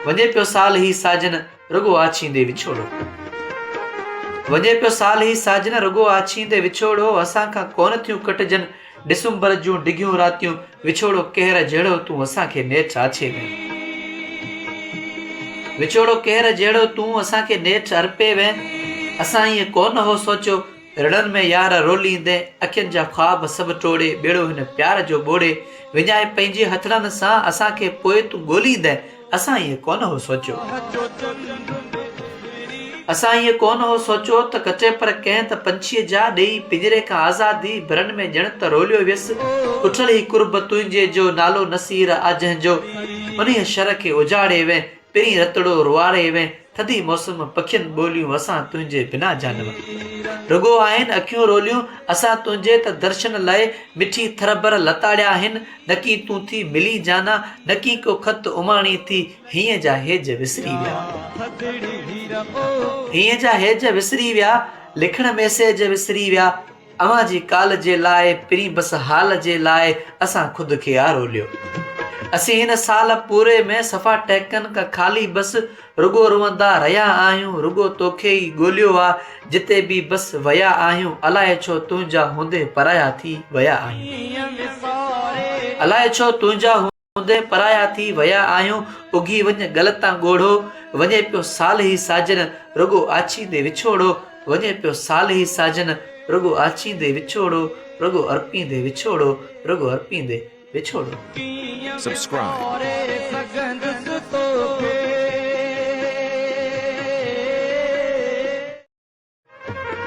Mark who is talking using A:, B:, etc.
A: وڃي پيو سال هي ساجن رڳو آڇيندي وڇوڙو وڃي پيو سال هي ساجن رڳو آڇيندي وڇوڙو اسان کان ڪون ٿيون ڪٽجن ڊسمبر جون ڊگهيون راتيون وڇوڙو ڪهر جهڙو تون اسان کي نيٺ آڇي ۾ وڇوڙو ڪهر جهڙو تون اسان کي نيٺ ارپي وين اسان ائين ڪونه هو سوچيو رڙن ۾ يار روليندي اکين جا خواب سڀ ٽوڙي ٻيڙو هن پيار جو ٻوڙي وڃائي پنهنجي هٿڙن سان اسان کي پوء تون ڳوليندي اسان ائين ڪونه هو سوچيو اسان ائين ڪونه هو سوچيو ته ڪٽي پر ڪنهن ته پنڇيء جا ڏيئي پڃري کان آزادي برن ۾ ڄڻ ته روليو ويس اٺل هي قرب تنهنجي جو نالو نصير آ جنهن جو انهيء شھر کي اجاڙي وين پرين رتڙو روئاري وين ٿڌي موسم پکين ٻوليون اسان تنهنجي بنا جانور رڳو آهن اکيون روليون اسان تنهنجي ته درشن لئه مٺي ٿر بر لتاڙيا آهن نڪي تون ٿي ملين جانا نڪي ڪو خط اماڻي ٿي هينء جا هيج وسري ويا هينء جا هيج وسري ويا لکڻ ميسيج وسري ويا اوهان جي ڪال جي لاء پرين بس حال جي لاء اسان خود کي آ روليو اسين هن سال پوري ۾ صفا ٽهڪن کان خالي بس رڳو روئندا رهيا آهيون رڳو توکي ئي ڳوليو آ جتي به بس ويا آهيون الائي ڇو تنهنجا هوندي پرايا ٿي ويا آهيون الائي ڇو تنهنجا اوندهه پرايا ٿي ويا آهيون، اگهي وڃ ڳل تان ڳوڙهو، وڃي پيو صالحي ساجن، رڳو آڇيندي وڇوڙو، وڃي پيو صالحي ساجن، رڳو آڇيندي وڇوڙو، رڳو ارپيندي وڇوڙو، رڳو ارپيندي
B: وڇوڙو.